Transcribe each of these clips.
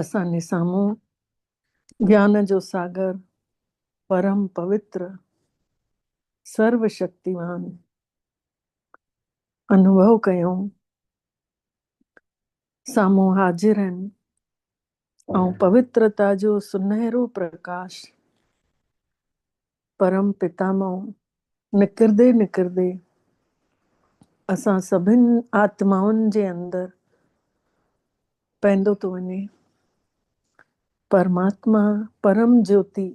اسان جي سامهون گيان جو ساگر پرم پوتر سرو شڪتيوان انوڀو ڪيون سامهون حاضر آهن ۽ پوترتا جو سنهرو پرڪاش پرم پتا مان نڪردي نڪردي اسان سڀن آتمائن جي اندر پئندو ٿو وڃي پرماتما پرم جوتي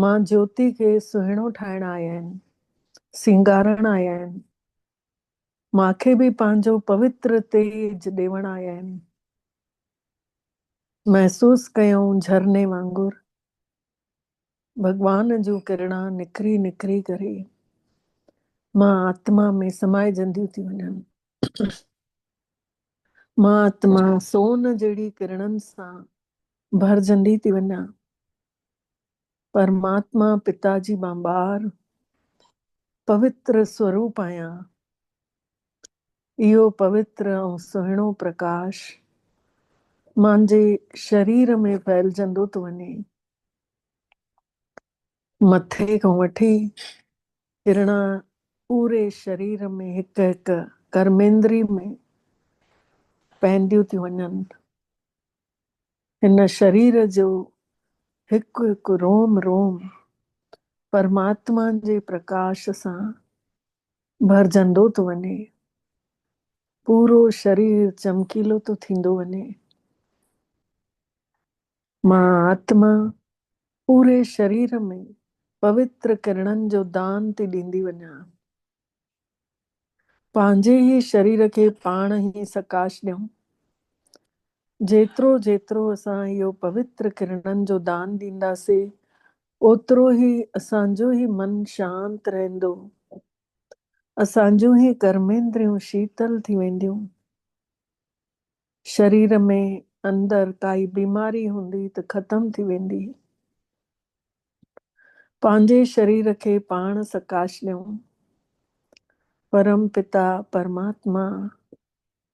ماء جوتي کي سهڻو ٺاهڻ آيا آهن سينگارڻ آيا آهن ماکي به پنهنجو پوتر تيج ڏيوڻ آيا آهن محسوس ڪيائون جھرني وانگر ڀڳوان جون ڪرڻا نکري نکري ڪري مان آتما ۾ سمائجنديون ٿي وڃن مان آتما سون جهڙي ڪرڻن سان ڀرجندي ٿي وڃان پرماتما پتا جي مان ٻار پوتر سوروپ آهيان اهو پوتر ۽ سهڻو پرڪاش مانجهي شرير ۾ ڦهلجندو ٿو وڃي. مٿي کان وٺي هرڻا پوري شرير ۾ هڪ هڪ ڪرميندري ۾ پهنديون ٿيون وڃن. هن شرير جو هڪ هڪ روم روم پرماتما جي پرڪاش سان ڀرجندو ٿو وڃي، پورو شرير چمڪيلو ٿو ٿيندو وڃي. مان آتما پوري شرير ۾ پوتر ڪرڻن جو دان ٿي ڏيندي وڃان. پنهنجي ئي شرير کي پاڻ ئي سڪاش ڏيون. جيترو جيترو اسان اهو پوتر ڪرڻن جو دان ڏينداسين، اوترو ئي اسان جو هي من شانت رهندو، اسان جون هي ڪرميندريون شيتل ٿي وينديون. شرير ۾ اندر ڪائي بيماري هوندي ته ختم ٿي ويندي. پنهنجي شرير کي پاڻ سڪاش ڏيون. پرم پتا پرماتما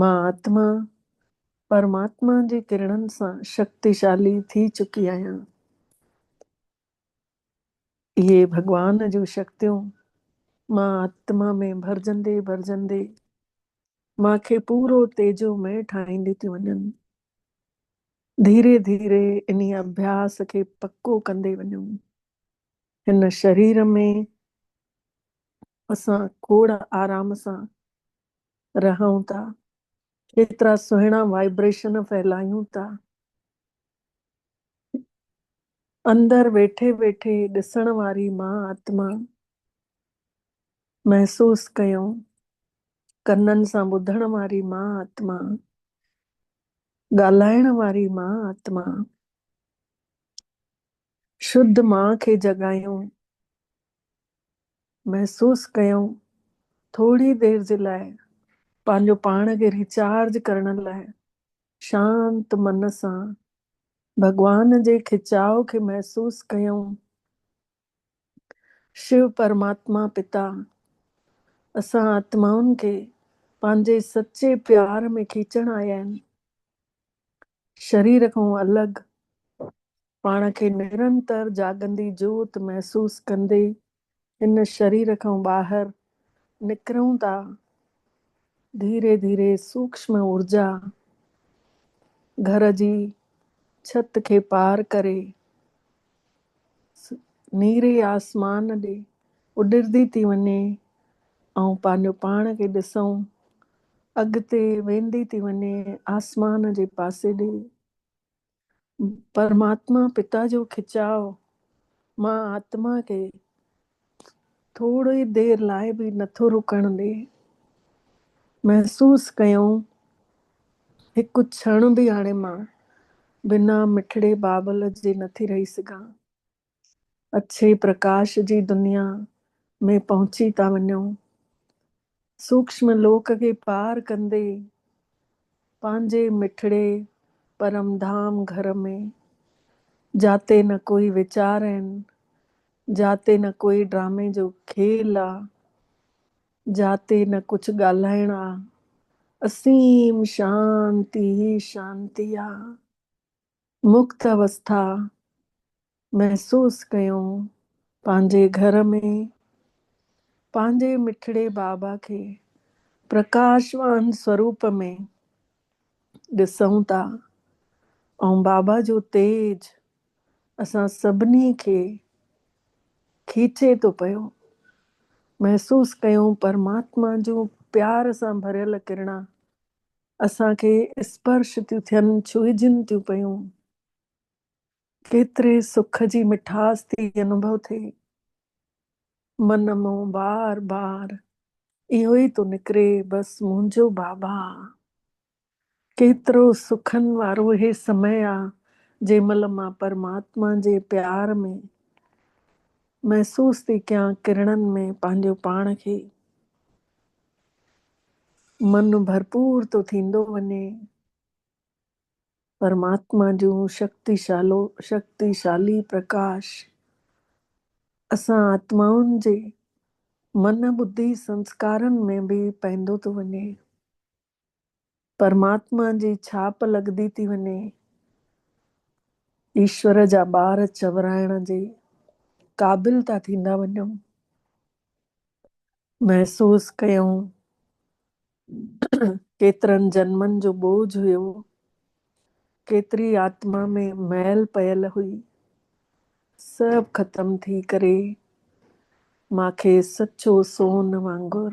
مان آتما پرماتما جي ڪرڻن سان شڪتيشالي ٿي چڪي آهيان. اهي ڀڳوان جون شڪتيون مان آتما ۾ ڀرجندي ڀرجندي مان کي پورو تيجو مئي ٺاهيندي ٿيون وڃن. ڌيري ڌيري انهي اڀياس کي پڪو ڪندي وڃو. هن شرير ۾ اسان کوڙ آرام سان رهون ٿا، ڪيترا سهڻا وائبريشن ڦهلايون ٿا. اندر ويٺي ويٺي ڏسڻ واري مان آتما محسوس ڪيو، ڪنن سان ٻڌڻ واري مان آتما، ڳالهائڻ واري مان آتما، شڌ مان کي جڳايون، محسوس ڪيائون، ٿوري دير جي لاء پنهنجو پاڻ کي ريچارج ڪرڻ لاء شانت من سان ڀڳوان جي کچاء کي محسوس ڪيائون، شو پرماتما پتا اسان آتمائن کي پنهنجي سچي پيار ۾ کيچڻ آيا آهن، شرير کان الڳ، پاڻ کي نرنتر جاڳندي جوت محسوس ڪندي هن شرير کان ٻاهر نڪرون ٿا. ڌيري ڌيري سوڪشم اورجا گهر جي ڇت کي پار ڪري نيري آسمان ڏي اڏرندي ٿي وڃي ۽ پنهنجو پاڻ کي ڏسون اڳتي ويندي ٿي وڃي آسمان جي پاسي ڏي. پرماتما پتا جو کچاء مان آتما کي ٿوري دير لاء به نٿو رڪڻ ڏي. محسوس ڪيائون هڪ ڇڻ به هاڻي مان بنا مٺڙي بابل جي نٿي رهي سگهان. اڇي پرڪاش جي دنيا ۾ پهچي ٿا وڃون. سوڪشم لوڪ کي پار ڪندي پنهنجي مٺڙي پرم ڌام گهر ۾، جاتي نه ڪوئي ويچار آهن، جاتي نه ڪوئي ڊرامي جو کيل آ، جاتي نه ڪجهه ڳالهائڻ آ، اسيم شانتي ئي شانتي آ. مڪت اوسٿا محسوس ڪيو پنهنجي گهر ۾ پنهنجي مٺڙي بابا کي پرڪاشوان سوروپ ۾ ڏسون ٿا ۽ بابا جو تيج اسان سڀني کي کيچي ٿو پيو محسوس ڪيون پرماتما جون پيار سان ڀريل ڪرڻا اسان کي اسپرش ٿيون ٿين، ڇهجن ٿيون پيون، ڪيتري سک جي مٺاس ٿي انوڀو ٿئي. من مون بار بار اهو ئي ٿو نڪري، بس منهنجو بابا. ڪيترو سکن وارو هي سمئي آ، جنهن مهل مان پرماتما جي پيار ۾ محسوس ٿي ڪيان، ڪرڻن ۾ پنهنجو پاڻ کي. من ڀرپور ٿو ٿيندو وڃي. پرماتما جون شڪتيشالو شڪتيشالي پرڪاش اسان آتمائن جي من ٻڌي سنسڪارن ۾ به پئندو ٿو وڃي. پرماتما جي ڇاپ لڳندي ٿي وڃي. ايشور جا ٻار چورائڻ جي قابل ٿا ٿيندا وڃون. محسوس ڪيون ڪيترن جنمن جو ٻوجھ هيو، ڪيتري آتما ۾ مئل پيل هئي، سڀ ختم ٿي ڪري مان کي سچو سون وانگر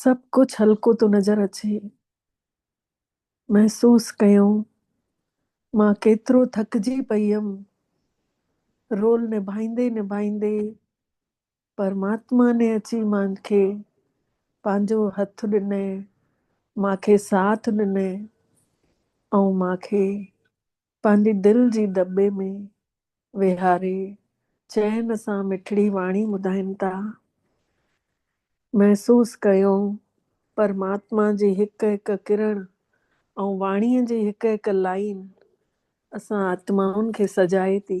سڀ ڪجهه هلڪو ٿو نظر اچي. محسوس ڪيائون، مان ڪيترو ٿڪجي پئي هيم. رول نڀائيندي نڀائيندي پرماتما ني اچي مان کي پنهنجو هٿ ڏنئي، مان کي ساٿ ڏنئي ۽ مان کي. پنهنجي دل جي دٻي ۾ ويهاري چين سان مٺڙي واڻي ٻڌائين ٿا. محسوس ڪيو پرماتما جي هڪ هڪ ڪرڻ ۽ واڻيء جي هڪ هڪ لائين اسان آتمائن کي سجائي ٿي.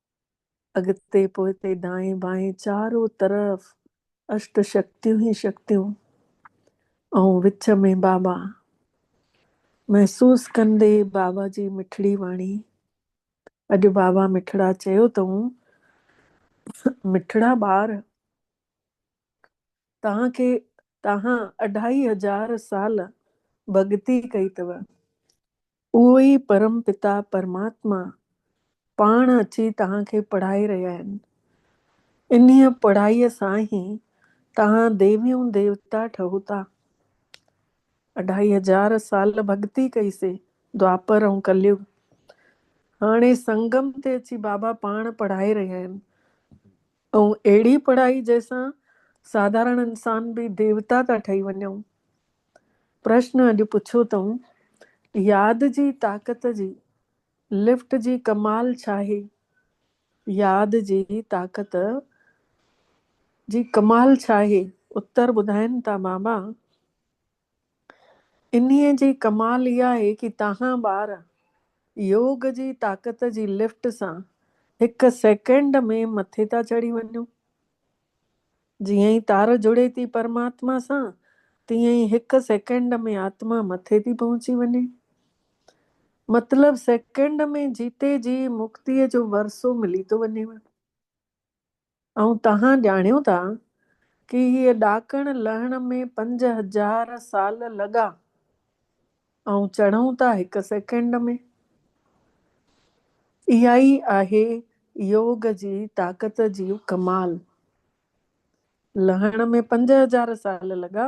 اڳتي پوئتي دائين بائين چارو طرف اشٽ شڪتيون ئي شڪتيون ۽ وچ ۾ بابا محسوس ڪندي بابا جي مٺڙي واڻي اڄ بابا مٺڙا چيو تئون مٺڙا ٻار توهان کي توهان اڍائي هزار سال ڀڳتي ڪئي تؤ اهو ئي پرم پتا پرماتما پاڻ اچي توهان کي پڙهائي رهيا آهن انهيء پڙهائي سان ئي توهان ديويون ديوتا ٺهو ٿا اڍائي هزار سال ڀڳتي ڪئي سي دواپر ۽ ڪليوگ هاڻي سنگم تي اچي بابا پاڻ پڙهائي رهيا آهن ۽ اهڙي پڙهائي جنهن سان ساڌارڻ انسان به ديوتا ٿا ٺهي وڃون. پرشن اڄ پڇيو اٿئون، ياد جي طاقت جي لفٽ جي ڪمال ڇاهي؟ ياد جي طاقت جي ڪمال ڇاهي؟ اتر ٻڌائين ٿا بابا! انهيء جي ڪمال اها آهي ڪي تهان ٻار يوگ جي طاقت جي لفٽ سان هڪ سيڪنڊ ۾ مٿي ٿا چڙهي وڃو. جيئن ئي تار جڙي ٿي پرماتما سان تيئن ئي هڪ سيڪنڊ ۾ آتما مٿي ٿي پهچي وڃي. مطلب سيڪنڊ ۾ جيتي جي مڪتيء جو ورثو ملي ٿو وڃيو. ائين توهان ڄاڻيو ٿا ڪي هيء ڏاڪڻ لهڻ ۾ پنج هزار سال لڳا ۽ چڙهون ٿا هڪ سيڪنڊ ۾. اها ئي آهي يوگ جي طاقت جي ڪمال. لهڻ ۾ پنج هزار سال لڳا،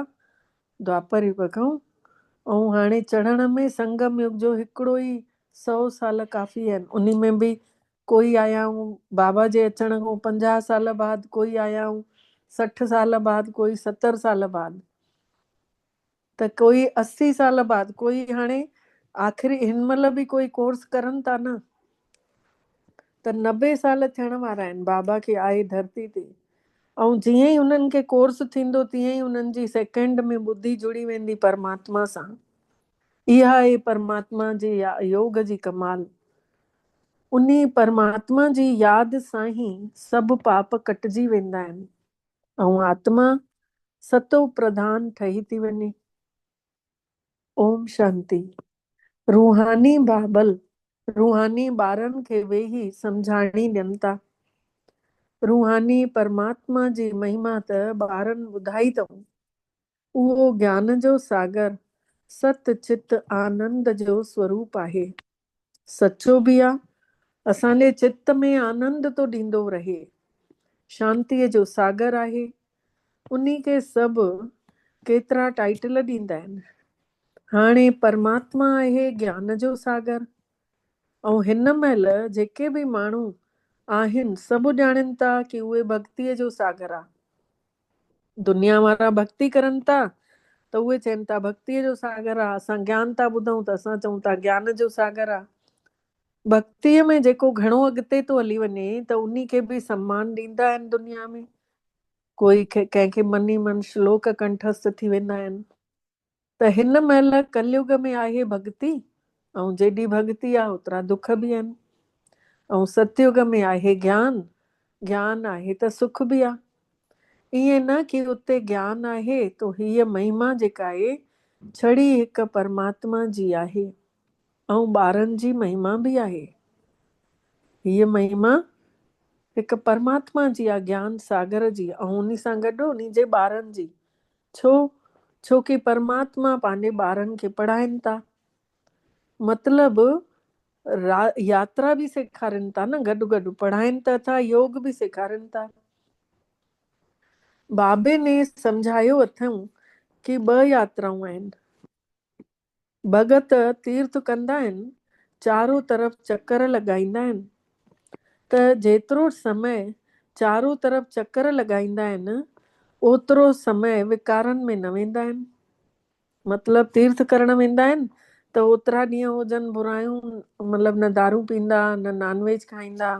دوآپر يگ کان، ۽ هاڻي چڙهڻ ۾ سنگم يگ جو هڪڙو ئي سئو سال ڪافي آهن، انهي ۾ به ڪوئي آيائون بابا جي اچڻ کان پنجاهه سال بعد ڪوئي آيائون سٺ سال بعد ڪوئي ستر سال بعد ته ڪوئي اسي سال بعد ڪوئي هاڻي آخري هن مهل به ڪوئي ڪورس ڪرن ٿا نه ته نبي سال ٿيڻ وارا آهن بابا کي آئي ڌرتي تي ۽ جيئن ئي انهن کي ڪورس ٿيندو تيئن ئي انهن جي سيڪنڊ ۾ ٻڌي جڙي ويندي پرماتما سان اها اي پرماتما جي يوگ جي ڪمال انهي پرماتما جي ياد سان ئي سڀ پاپ ڪٽجي ويندا آهن ۽ آتما ستو پرڌان ٺهي ٿي وڃي. اوم شانتي. روحاني بابل روحاني ٻارن کي ويهي سمجهاڻي ڏين ٿا. روحاني پرماتما جي مهما ته ٻارن ٻڌائي اٿئون. اهو گيان جو ساگر ست چت آنند جو سوروپ آهي. سچو به آ، اسان جي چت ۾ آنند ٿو ڏيندو رهي. شانتيء جو ساگر آهي. انهي کي سڀ ڪيترا ٽائيٽل ڏيندا آهن. هاڻي پرماتما آهي گيان جو ساگر ۽ هن مهل جيڪي به ماڻهو آهن سڀ ڄاڻين ٿا ڪي اهي ڀڳتيء جو ساگر آ. دنيا وارا ڀڳتي ڪرن ٿا ته اهي چين ٿا ڀڳتيء جو ساگر آ، اسان گيان ٿا ٻڌون ته اسان چئون ٿا گيان جو ساگر آ. ڀڳتيء ۾ جيڪو گهڻو اڳتي ٿو هلي وڃي ته انهي کي به سمان ڏيندا آهن دنيا ۾، ڪوئي ڪنهن کي مني من شلوڪ ڪنٺسٿ ٿي ويندا آهن. ته هن مهل ڪليگ ۾ آهي ڀڳتي ۽ جيڏي ڀڳتي آ اوترا دک به آهن ۽ ستيگ ۾ آهي گيان، گيان آهي ته سک به آ. ائين نه ڪي اتي گيان آهي تو هيء مهما جيڪا اي ڇڙي هڪ پرماتما جي آهي ۽ ٻارن جي مهما به آهي. هيء مهما هڪ پرماتما جي آ گيان ساگر جي ۽ انهي سان گڏ انهي جي ٻارن جي ڇو؟ ڇو ڪي پرماتما پنهنجي ٻارن کي پڙهائين ٿا. مطلب را ياترا به سيکارين ٿا نه گڏ گڏ پڙهائين ته ٿا يوگ به سيکارين ٿا. بابي ني سمجهايو اٿئون ڪي ٻه ياترائون آهن. ڀڳت تيرٿ ڪندا آهن، چارو طرف چڪر لڳائيندا آهن ته جيترو سمي چارو طرف چڪر لڳائيندا آهن اوترو سمي وڪارن ۾ نه ويندا آهن. مطلب تيرٿ ڪرڻ ويندا آهن ته اوترا ڏينهن هجن برايون مطلب نه دارون پيندا نه نان ويج کائيندا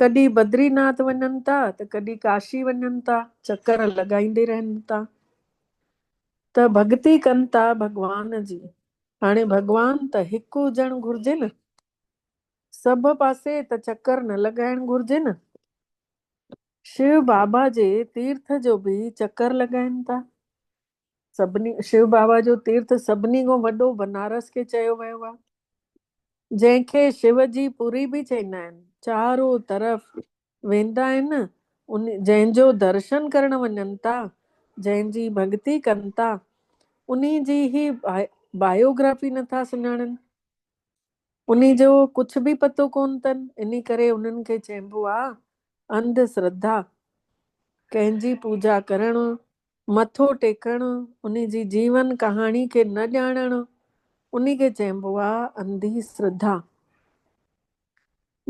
ڪڏھن بدري ناٿ وڃن ٿا ته ڪڏھن ڪاشي وڃن ٿا چڪر لڳائيندي رھن ٿا ته ڀڳتي ڪن ٿا ڀڳوان جي ھاڻي ڀڳوان ته ھڪ ھجڻ گھرجي نه سڀ پاسي ته چڪر نه لڳائڻ گھرجي نه شو بابا جي تيرٿ جو به چڪر لڳائين ٿا سڀني شو بابا جو تيرٿ سڀني کان وڏو بنارس کي چيو ويو آهي جنهن کي شو جي پوري به چئيندا آهن چارو طرف ويندا آهن ان جنهن جو درشن ڪرڻ وڃن ٿا جنهن جي ڀڳتي ڪن ٿا انهي جي هي بايوگرافي نٿا سڃاڻن انهي جو ڪڇ به پتو ڪونه تن، انهي ڪري انهن کي چئبو آ انڌ سرڌا. ڪنهن جي پوجا ڪرڻ، مٿو ٽيڪڻ، انهي جي جيون ڪهاڻي کي نه ڄاڻڻ، انهي کي چئبو آ انڌي سرڌا.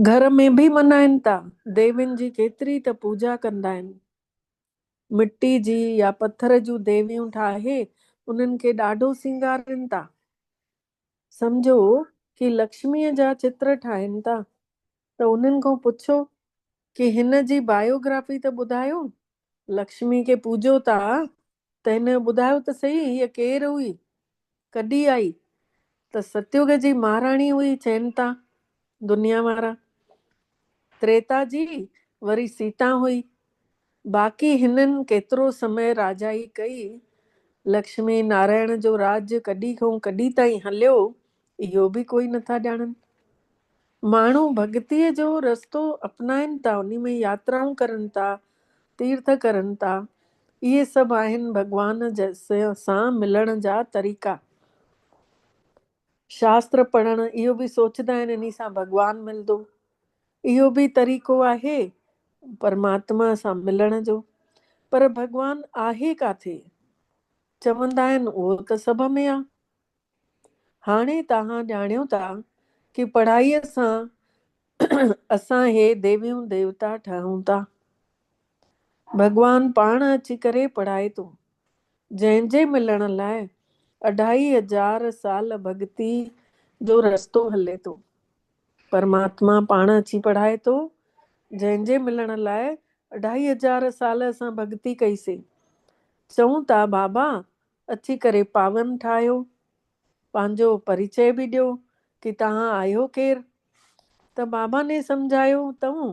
گهر ۾ به منائين تا، ديوين جي ڪيتري ته پوجا ڪندا آهن. مٽي جي يا پٿر جون ديويون ٺاهي انهن کي ڏاڍو سينگارين تا. سمجهو ڪي لڪشميء جا چتر ٺاهين ٿا ته انهن کان پڇو ڪي هن جي بايوگرافي ته ٻڌايو، لڪشمي کي پوڄو ٿا ته هن جو ٻڌايو ته سهي هيء ڪير هئي، ڪڏي آئي ته ستيوگ جي مهاراڻي هئي چين ٿا دنيا وارا تريتا جي وري سيتا هئي. باقي هنن ڪيترو سمي راجائي ڪئي. لڪشمي نارائڻ جو راڄ ڪڏي کان ڪڏي تائين هليو اهو به ڪوئي نٿا ڄاڻن. ماڻهو ڀڳتيء جو رستو اپنائن ٿا انهي ۾ ياترائون ڪرن ٿا تيرٿ ڪرن ٿا اهي سڀ آهن ڀڳوان سان ملڻ جا طريقا. شاستر پڙهڻ اهو به سوچدا آهن انهي سان ڀڳوان ملدو اهو به طريقو آهي پرماتما سان ملڻ جو پر ڀڳوان آهي ڪاٿي چوندا آهن اهو ته سڀ ۾ آ هاڻي تهان ڄاڻيو ٿا ڪي پڙهائي سان اسان هي ديويون ديوتا ٺهون ٿا ڀڳوان پاڻ اچي ڪري پڙهائي ٿو جنهن جي ملڻ لاء اڍائي هزار سال ڀڳتي جو رستو هلي ٿو. پرماتما پاڻ اچي پڙهائي ٿو، جنهن جي ملڻ لاء اڍائي هزار سال اسان ڀڳتي ڪئي سي. چئون ٿا بابا اچي ڪري پاون ٺاهيو. پنهنجو پريچئه به ڏيو ڪي تهان آهيو ڪير؟ ته بابا ني سمجهايو تئون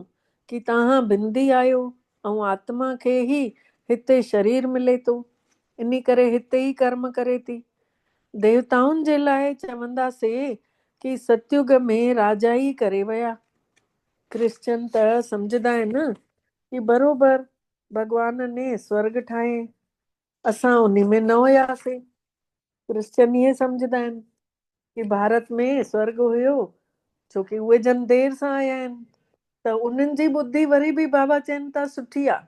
ڪي تهان بندي آهيو ۽ آتما کي هي هتي شرير ملي ٿو انهي ڪري هتي ئي ڪرم ڪري ٿي. ديوتائن جي لاء چوندا سي ڪي ستيوگ ۾ راجا ئي ڪري ويا. ڪرسچن ته سمجهدا آهن ڪي بروبر ڀڳوان ني سورڳ ٺاهين اسان انهي ۾ نه هياسين. ڪرسچن ائين سمجهندا آهن ڪي ڀارت ۾ سورڳ هيو ڇو ڪي اهي جن دير سان آيا آهن ته انهن جي ٻڌي وري به بابا چين ٿا سٺي آ.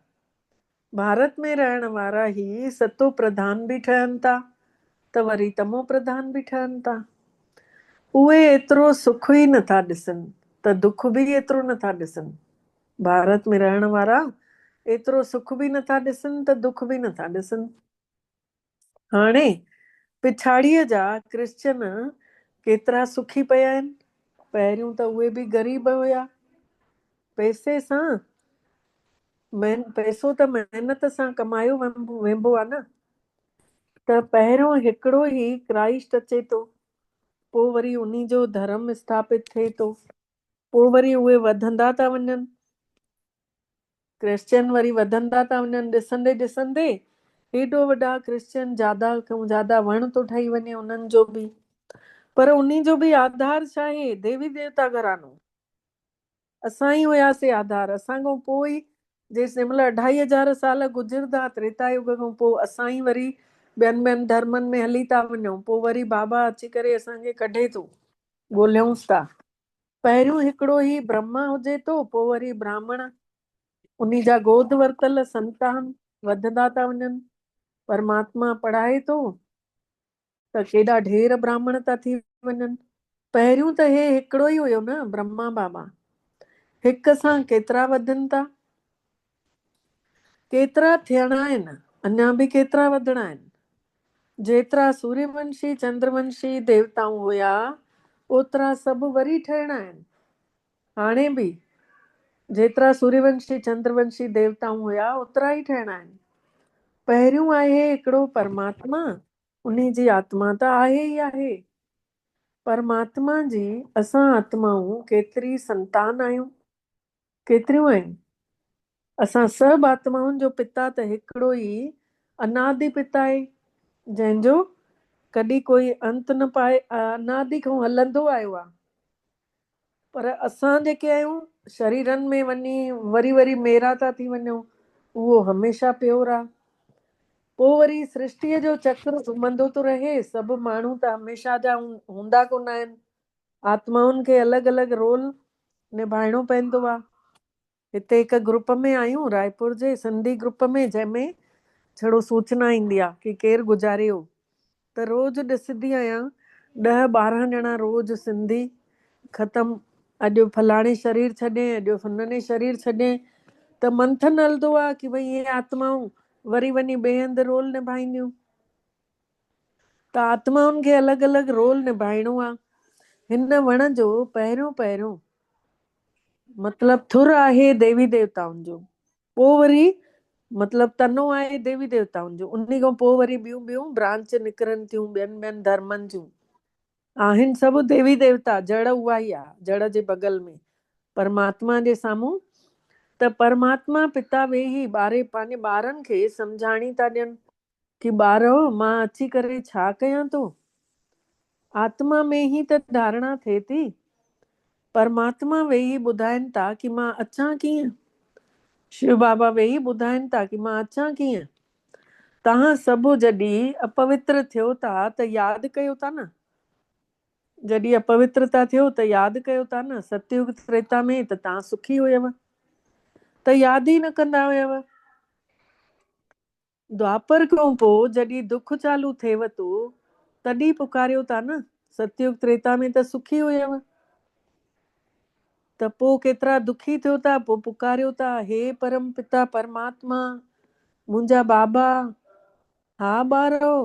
ڀارت ۾ رهڻ وارا هي ستو پرڌان به ٺهن ٿا ته وري تمو پرڌان به ٺهن ٿا. اهي ايترو سک ئي نه ٿا ڏسن ته دک به ايترو نه ٿا ڏسن. ڀارت ۾ رهڻ وارا ايترو سک به نٿا ڏسن ته دک به نٿا ڏسن. هاڻي پڇاڙيء جا ڪرسچن ڪيترا سکي پيا آهن. پهريون ته اهي به غريب هيا. پئسي سان پئسو ته محنت سان ڪمايو وينبو آ نه. ته پهريون هڪڙو ئي ڪرائسٽ اچي ٿو. پو وري انهي جو ڌرم اسٿاپت ٿئي ٿو. پوء وري اهي وڌندا ٿا وڃن. ڪرسچن وري وڌندا ٿا وڃن ڏسندي ڏسندي هيڏو وڏا ڪرسچن جادا کان جادا وڻ ٿو ٺهي وڃي انهن جو به پر انهي جو به آڌار ڇا آهي ديوي ديوتا گهرانو اسان ئي هياسي آڌار اسان کان پوء ئي جيسين مطلب اڍائي هزار سال گذردا تريتا يوگ کان پوء اسان ئي وري ٻين ٻين ڌرمن ۾ هلي ٿا وڃون پوء وري بابا اچي ڪري اسان کي ڪڍي ٿو ڳولهيونس ٿا. پهريون هڪڙو هي برهما هجي ٿو، پوء وري براهمڻ، انهي جا گود ورتل سنتان وڌندا ٿا وڃن. پرماتما پڙهائي ٿو ته ڪيڏا ڍير براهمڻ ٿا ٿي وڃن. پهريون ته هي هڪڙو ئي هيو نه، برهما بابا! هڪ سان ڪيترا وڌن ٿا؟ ڪيترا ٿيڻا آهن، اڃا به ڪيترا وڌڻا آهن. جيترا سوريه ونشي، چندر ونشي ديوتائون هيا، اوترا سڀ وري ٺهڻا آهن. هاڻي به جيترا سوريه ونشي، چندر ونشي ديوتائون هيا، اوترا ئي ٺهڻا آهن. پهريون آهي هڪڙو پرماتما، انهي جي آتما ته آهي ئي آهي. پرماتما جي اسان آتمائون ڪيتري سنتان آهيون. ڪيتريون آهن؟ اسان سڀ آتمائن جو پتا ته هڪڙو ئي انادي پتا آهي، جنهن جو ڪڏهن ڪوئي انت نه پائي انادي کان هلندو آيو آهي. پر اسان جيڪي آهيون، شريرن ۾ وڃي وري وري ميرا ٿا ٿي وڃون، اهو هميشه پيور آهي. پوء وري سرشٽيء جو چڪر گهمندو ٿو رهي، سڀ ماڻهو ته هميشه جا هوندا ڪونه آهن. آتمائن کي الڳ الڳ رول نڀائڻو پوندو آ. هتي هڪ گروپ ۾ آهيون رائپور جي سنڌي گروپ ۾ جنهن ۾ ڇڙو سوچنا ايندي آ ڪي ڪير گذاري هو ته روز ڏسدي آهيان ڏهه ٻارهن ڄڻا روز سنڌي ختم اڄ فلاڻي شرير ڇڏين اڄ فنني شرير ڇڏين ته منٿن هلدو آ ڪي ڀئي اهي آتمائون وري وڃي ٻئي هنڌ رول نڀائينديون. ته آتمائن کي الڳ الڳ رول نڀائڻو آ. هن وڻ جو پهريون پهريون مطلب ٿر آهي ديوي ديوتائن جو، پوء وري مطلب تنو آهي ديوي ديوتائن جو، انهي کان پوء وري ٻيون ٻيون برانچ نڪرن ٿيون ٻين ٻين ڌرمن جون. آهن سڀ ديوي ديوتا، جڙ اهائي آ، جڙ جي بغل ۾ پرماتما جي سامهون ته پرماتما پتا ويهي ٻاري پنهنجي ٻارن کي سمجهاڻي ٿا ڏين. ڪي ٻارو مان اچي ڪري ڇا ڪيان ٿو؟ آتما ۾ هي ته ڌارڻا ٿئي ٿي. پرماتما ويهي ٻڌائين ٿا ڪي مان اچان ڪيئن؟ شو بابا ويهي ٻڌائين ٿا ڪي مان اچان ڪيئن؟ توهان سڀ جڏي اپوتر ٿيو ٿا ته ياد ڪيو ٿا نه؟ جڏي اپوتر ٿا ٿيو ته ياد ڪيو ٿا نه؟ ستيوگ تريتا ۾ ته توهان سکي هيو ته ياد ئي نه ڪندا هيو. دوآپر کان پوء جڏھن دک چالو ٿيوء تو تڏھن پڪاريو ٿا نه، ستيوگ تريتا ۾ ته سکي ھيوء ته پوء ڪيترا دکي ٿيو ٿا پوء پڪاريو ٿا ھي پرم پتا پرماتما منھنجا بابا ھا ٻارئو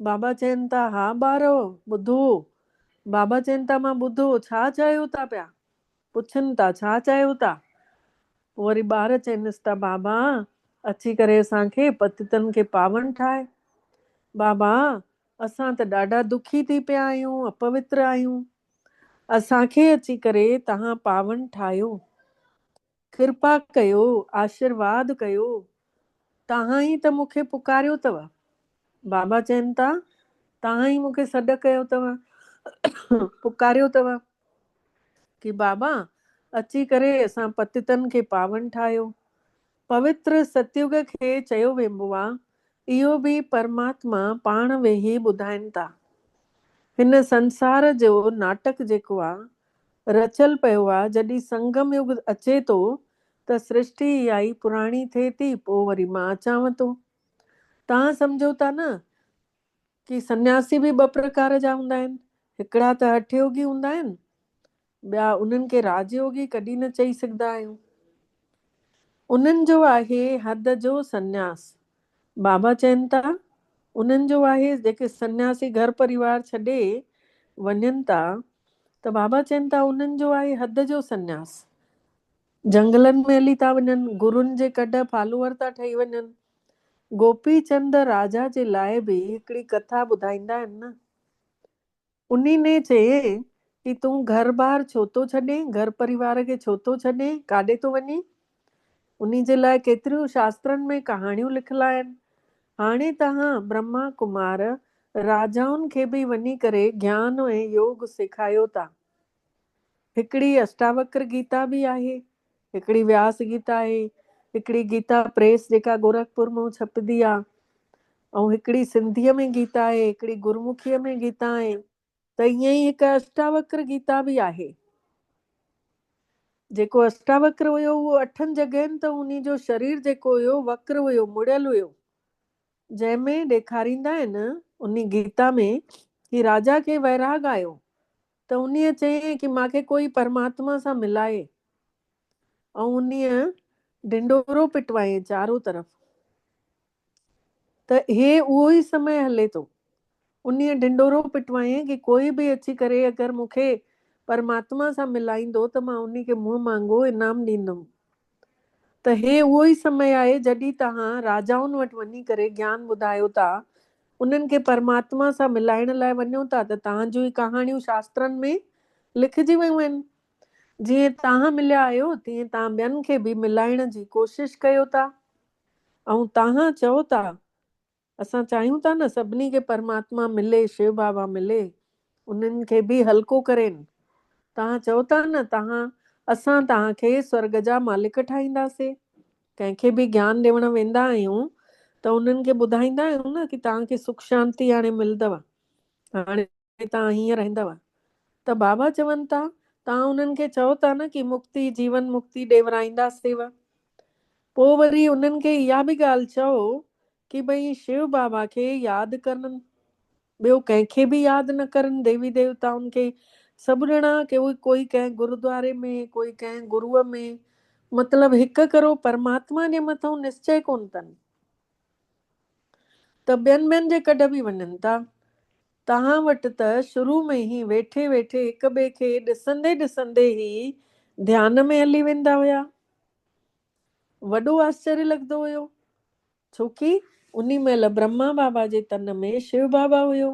بابا چين ٿا ھا ٻارئو ٻڌو بابا چين ٿا مان ٻڌو ڇا چاھيو ٿا پيا؟ پڇن ٿا ڇا چاهيو ٿا؟ پوء وري ٻار چئنس ٿا بابا اچي ڪري اسان کي پتيتن کي پاون ٺاهه. بابا اسان ته ڏاڍا دکي ٿي پيا آهيون، اپوتر آهيون. اسان کي اچي ڪري توهان پاون ٺاهيو. ڪرپا ڪيو، آشيرواد ڪيو. توهان ئي ته مون کي پڪاريو اٿو. بابا چين ٿا، توهان ئي مون کي سڏ ڪيو اٿو، پڪاريو اٿو، ڪي بابا اچي ڪري اسان پتيتن کي پاون ٺاهيو. پوتر ستيوگ کي چيو ويبو آ، اهو به پرماتما پاڻ ويهي ٻڌائين ٿا. هن سنسار جو ناٽڪ جيڪو آ، رچيل پيو آ، جڏهن سنگم يگ اچي ٿو ته سرشٽي اها ئي پراڻي ٿئي ٿي پوء وري مان اچانو ٿو. توهان سمجهو ٿا نه ڪي سنياسي به ٻه پرڪار جا هوندا آهن، هڪڙا ته هٺ يوگي هوندا آهن، ٻيا انهن کي راج يوگي ڪڏهن نه چئي سگهدا آهيون. انهن جو آهي حد جو سنياس. بابا چين ٿا انهن جو آهي جيڪي سنياسي گهر پريوار ڇڏي وڃن ٿا ته بابا چين ٿا انهن جو آهي حد جو سنياس. جهنگلن ۾ هلي ٿا وڃن، گرون جي ڪڍ فالوور ٿا ٺهي وڃن. گوپي چند راجا جي لاء به هڪڙي ڪٿا ٻڌائيندا آهن نه. انهي ني چيئين ڪي تون گهر بار ڇو ٿو ڇڏين، گهر پريوار کي ڇو ٿو ڇڏين، ڪاڏي ٿو وڃين. انهي جي لاء ڪيتريون شاسترن ۾ ڪهاڻيون لکل آهن. هاڻي تهان برهما ڪمار راجائن کي به وڃي ڪري گيان ۽ يوگ سيکايو ٿا. هڪڙي اشٽاوڪر گيتا به آهي، هڪڙي وياس گيتا آهي، هڪڙي گيتا پريس جيڪا گورکپور مان ڇپبي آ ۽ هڪڙي سنڌيء ۾ گيتا آهي، هڪڙي گرمکيء ۾ گيتا آهي ته ائين ئي هڪ اشٽاوڪر گيتا به آهي. جيڪو اشٽاوڪر هيو اهو اٺن جڳهين ته انهي جو شرير جيڪو هيو وڪر هيو مڙيل هيو جنهن ۾ ڏيکاريندا آهن انهي گيتا ۾ هي راجا کي ويراڳ آيو ته انهيء چيائين ڪي مان کي ڪوئي پرماتما سان ملائي ۽ انهيء ڍنڍورو پٽوائين چارون طرف ته هي اهو ئي سمي هلي ٿو. انهيء ڍنڍورو پٽوائين ڪي ڪوئي به اچي ڪري اگر مون کي پرماتما سان ملائيندو ته مان انهي کي منهن مانگو انعام ڏيندم. ته هي اهو ئي سمي آهي جڏهن توهان راجائن وٽ وڃي ڪري گيان ٻڌايو ٿا، انهن کي پرماتما سان ملائڻ لاء وڃو ٿا ته توهان جون هي ڪهاڻيون شاسترن ۾ لکجي ويون آهن. جيئن توهان مليا آهيو تيئن توهان ٻين کي به ملائڻ جي ڪوشش ڪيو ٿا ۽ توهان چئو ٿا اسان چاهيون ٿا نه سڀني کي پرماتما ملي شو بابا ملي انهن کي به هلڪو ڪرين توهان چئو ٿا نه توهان اسان توهان کي سورڳ جا مالڪ ٺاهينداسي ڪنهن کي به گيان ڏيوڻ ويندا آهيون ته انهن کي ٻڌائيندا آهيون نه ڪي توهان کي سک شانتي هاڻي ملدو هاڻي ۾ توهان هيئن رهندؤ ته بابا چون ٿا، توهان انهن کي چئو ٿا نه ڪي مڪتي، جيون مڪتي، ڏيورائينداسينء. پوء وري انهن کي اها به ڳالهه چئو ڪي ڀئي شيو بابا کي ياد ڪرن، ٻيو ڪنهن کي به ياد نه ڪرن، ديوي ديوتائن کي سڀ ڏڻا، ڪوئي ڪنهن گرودواري ۾، ڪوئي ڪنهن گروء ۾، مطلب هڪ ڪرو پرماتما جي مٿئون نسچئه ڪونه ٿن. ته ٻين ٻين جي ڪڍ به وڃن ٿا. توهان وٽ ته شروع ۾ ئي ويٺي ويٺي هڪ ٻئي کي ڏسندي ڏسندي ئي ڌيان ۾ هلي ويندا هيا. وڏو آسچريه لڳندو هيو. ڇو ڪي انهي مهل برهما بابا جي تن ۾ شو بابا هيو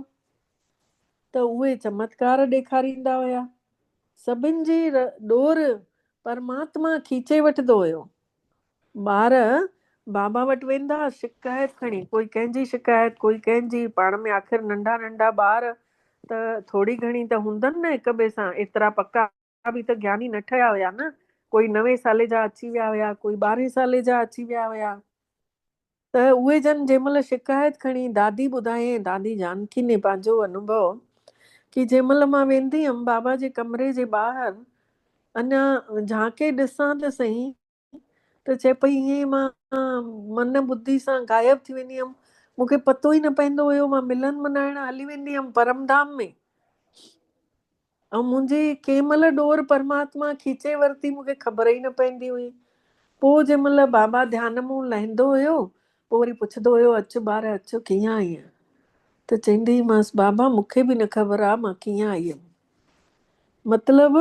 ته اهي چمتڪار ڏيکاريندا هيا. سڀن جي ڏور پرماتما کيچي وٺندو هيو. ٻار بابا وٽ ويندا، شڪايت کڻي، ڪوئي ڪنهن جي شڪايت، ڪوئي ڪنهن جي، پاڻ ۾ آخر ننڍا ننڍا ٻار ته ٿوري گهڻي ته هوندن نه هڪ ٻئي سان، ايترا پڪا به ته گياني نه ٺهيا هيا نه، ڪوئي نوي سالي جا اچي ويا هيا، ڪوئي ٻارهين سالي جا اچي ويا هيا، ته اهي جن جنهن مهل شڪايت کڻي، دادي ٻڌايائين، دادي جانڪي ني پنهنجو انوڀو، ڪي جنهن مهل مان ويندي هيم بابا جي ڪمري جي ٻاهر اڃا جهانڪي ڏسان ته سهي، ته چئي پئي ائين ئي مان من ٻڌي سان غائب ٿي ويندي هيم مون کي پتو ئي نه پوندو هيو مان ملن منائڻ هلي ويندي هيم پرم ڌام ۾ ۽ منهنجي ڪنهن مهل ڏور پرماتما کيچي ورتي مون کي خبر ئي نه پوندي هئي پوء جنهن مهل بابا ڌيان مون لهندو هيو پوء وري پڇندو هيو اچ ٻار اچ ڪيئن آئين ته چوندي هئمانس بابا مون کي به نه خبر آ مان ڪيئن آئي هيم مطلب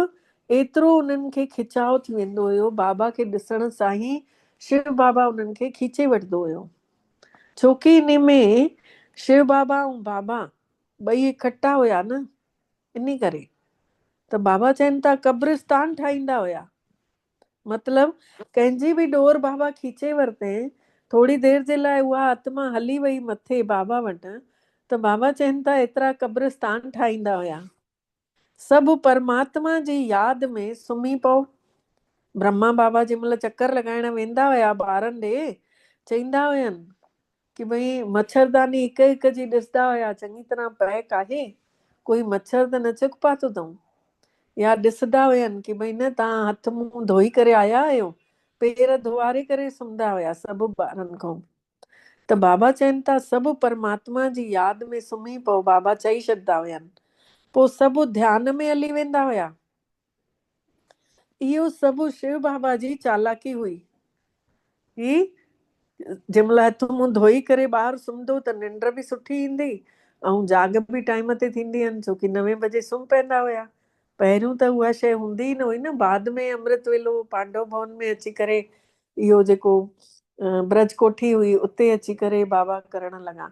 ايترو انهن کي کچاء ٿي ويندو هيو، بابا کي ڏسڻ سان ئي شو بابا انهن کي کيچي وٺندو هيو. ڇوڪي انهي ۾ شو بابا ۽ بابا ٻئي اڪٺا هيا نه، انهي ڪري ته بابا چين ته قبرستان ٺاهيندا هيا. مطلب ڪنهن جي به ڏور بابا کيچي ورتين، ٿوري دير جي لاء اها آتما هلي وئي مٿي بابا وٽ ته بابا چين ٿا ايترا قبرستان ٺاهيندا هيا. سڀ پرماتما جي ياد ۾ سمهي پئو. برهما بابا جنهن مهل چڪر لڳائڻ ويندا هيا ٻارن ڏي چئيندا هين ڪي ڀئي مڇرداني هڪ هڪ جي ڏسدا هيا چڱي طرح پئڪ آهي ڪوئي مڇر ته نه چڪ پاتو اٿئون يا ڏسدا هين ڪي ڀئي نه توهان هٿ منهن ڌوئي ڪري آيا آهيو پير ڌوئاري ڪري سمهندا هيا سڀ ٻارن کان ته بابا چين ٿا سڀ پرماتما جي ياد ۾ سمهي پئو بابا چئي ڇڏدا هين پوء سڀ ڌيان ۾ هلي ويندا هيا. اهو سڀ شو بابا جي چالاڪي هئي. هي جنهن مهل هٿ منهن ڌوئي ڪري ٻاهر سمهندو ته ننڊ به سٺي ايندي ۽ جاڳ به ٽائيم تي ٿيندي هن ڇوڪي نوين بجي سمهه پئندا هيا. پهريون ته اها شيء هوندي ئي نه هئي نه بعد ۾ امرت ويلو پانڊو ڀون ۾ اچي ڪري اهو جيڪو برج ڪوٺي هئي اتي اچي ڪري بابا ڪرڻ لڳا.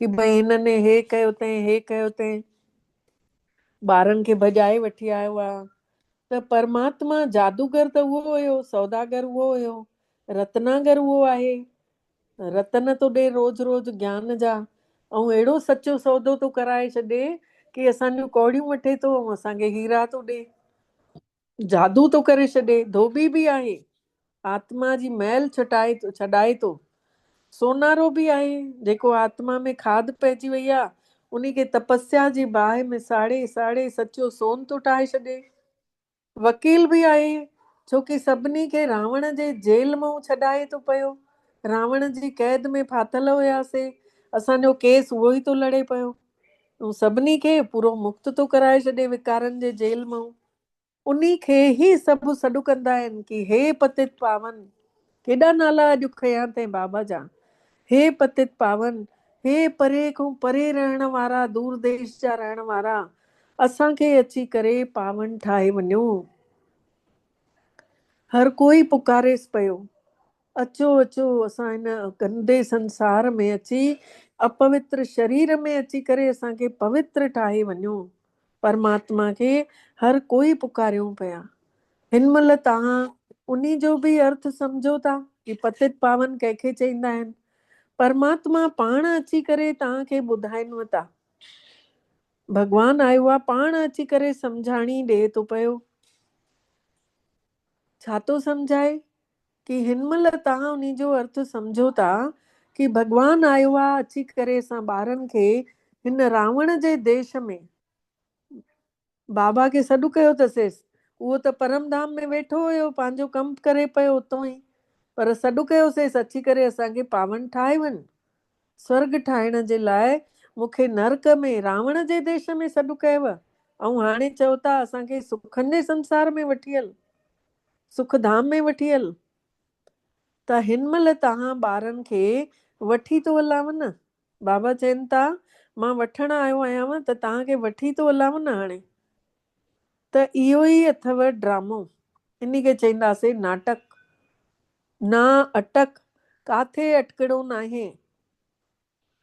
ڪي ڀئي هنن هي ڪيو تنهن هي ڪيو تنهن ٻارن کي ڀڄائي وٺي آيو آ ته پرماتما جادوگر ته اهو هيو سوداگر اهو هيو رتناگر اهو آهي رتن ٿو ڏي روز روز گيان جا ۽ اهڙو سچو سودو ٿو ڪرائي ڇڏي ڪي اسان جون ڪوڙيون وٺي ٿو ۽ اسان کي هيرا ٿو ڏي جادو ٿو ڪري ڇڏي، ڌوٻي به آهي، آتما جي مئل ڇٽائي ٿو، ڇڏائي ٿو. سونارو به آهي، جيڪو آتما ۾ کاڌ پئجي وئي آ، انهي کي تپسيا جي باهه ۾ ساڙي ساڙي سچو سون ٿو ٺاهي ڇڏي. وڪيل به آهي، ڇو ڪي سڀني کي راوڻ جي جيل مئون ڇڏائي ٿو پيو. راوڻ جي قيد ۾ ڦاٿل هياسي، اسان جو ڪيس اهو ئي ٿو لڙي پيو. تون سڀني کي پورو مفت ٿو ڪرائي ڇڏين وڪارن جي جيل مئون انهي کي هي سڀ سڏ ڪندا آهن ڪي هي پتت پاون ڪيڏا نالا اڄ کنيا تين بابا جا هي پتت پاون هي پري کون پري رهڻ وارا دور ديش جا رهڻ وارا اسان کي اچي ڪري پاون ٺاهي وڃو هر ڪوئي پڪاريس پيو. اچو اچو اسان هن گندي سنسار ۾ اچي اپوتر شرير ۾ اچي ڪري اسان کي پوتر ٺاهي وڃو. پرماتما کي هر ڪوئي پڪاريون پيا. هن مهل توهان انهي جو به ارٿ سمجهو ٿا ڪي پتت پاون ڪنهن کي چئيندا آهن. پرماتما پاڻ اچي ڪري توهان کي ٻڌائنو ٿا. ڀڳوان آيوآ پاڻ اچي ڪري سمجهاڻي ڏئي ٿو پيو. ڇا ٿو سمجهائي ڪي هن مهل توهان انهي جو ارٿ سمجهو ٿا ڪي ڀڳوان آيو آ اچي ڪري اسان ٻارن کي هن راوڻ جي ديش ۾ بابا کي سڏ ڪيو ته سيس اهو ته پرم ڌام ۾ ويٺو هيو پنهنجو ڪم ڪري پيو اتون ئي پر سڏ ڪيو سيس اچي ڪري اسان کي پاون ٺاهي وڃ سورڳ ٺاهڻ جي لاء مون کي نرڪ ۾ راوڻ جي ديش ۾ سڏ ڪيو ۽ هاڻي چئو ٿا اسان کي سکن جي سنسار ۾ وٺي هل. سک ڌام ۾ وٺي هل ته هن مهل توهان ٻارن کي وٺي ٿو هلانء نه. بابا چين ٿا مان وٺڻ آيو آهيانء ته توهان کي وٺي ٿو هلانء نه هاڻي ته اهو ئي اٿئو ڊرامو انهي کي چئينداسين ناٽڪ. نا اٽڪ ڪاٿي اٽڪڻو ناهي.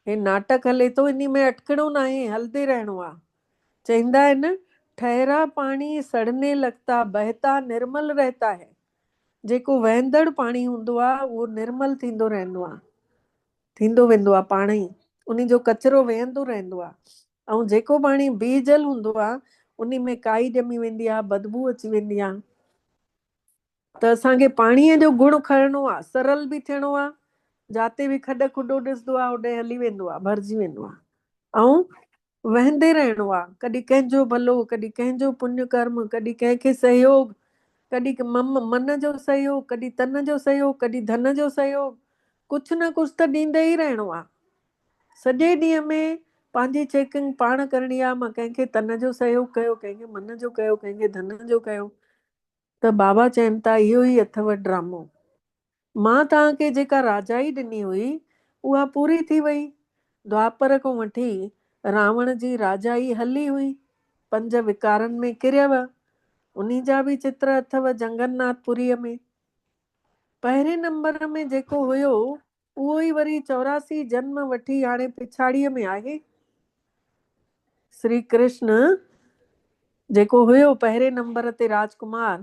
هي ناٽڪ هلي ٿو، انهي ۾ اٽڪڻو ناهي، هلندي رهڻو آ. چئيندا آهن، ٺهرا پاڻي سڙني لگتا، بهتا نرمل رهتا هي. جيڪو وهندڙ پاڻي هوندو آ، اهو نرمل ٿيندو رهندو آ، ٿيندو ويندو آ، پاڻ ئي انهي جو ڪچرو وهندو رهندو آ. ۽ جيڪو پاڻي بي جل هوندو آ، انهي ۾ ڪائي ڄمي ويندي آ، بدبوء اچي ويندي آ. ته اسان کي پاڻيء جو گهڙ کڻڻو آ، سرل به ٿيڻو آ، جاتي به کڏ کڏو ڏسندو آ، هوڏي هلي ويندو آ، ڀرجي ويندو آ، ۽ وهندي رهڻو آ، ڪڏهن ڪنهن جو ڀلو، ڪڏهن ڪنهن جو پڃ ڪرم، ڪڏهن ڪنهن کي سهيوڳ، ڪڏهن مم من جو سهيوڳ، ڪڏهن تن جو سهيوڳ، ڪڏهن ڌن جو سهيوڳ، ڪجهه نه ڪجهه ته ڏيندي ئي رهڻو آ. سڄي ڏينهن ۾ پنهنجي چيڪنگ پاڻ ڪرڻي آ، مان ڪنهن کي تن جو سهيوڳ ڪيو، ڪنهن کي من جو ڪيو، ڪنهن کي ڌن جو ڪيو، ته بابا چين ٿا اهو ئي اٿئو ڊرامو. مان توهان کي جيڪا راجائي ڏني هئي اها پوري ٿي وئي. دوآپر کون وٺي راوڻ جي راجائي هلي هئي. پنج وڪارن ۾ ڪريو. انهي جا به چتر اٿئو جنگن ناٿ پوريء ۾. پهرين نمبر ۾ جيڪو هيو اهو ئي وري چوراسي جنم وٺي هاڻي پڇاڙيء ۾ آهي. سري ڪرشن جيڪو هيو پهرين نمبر تي راج ڪمار،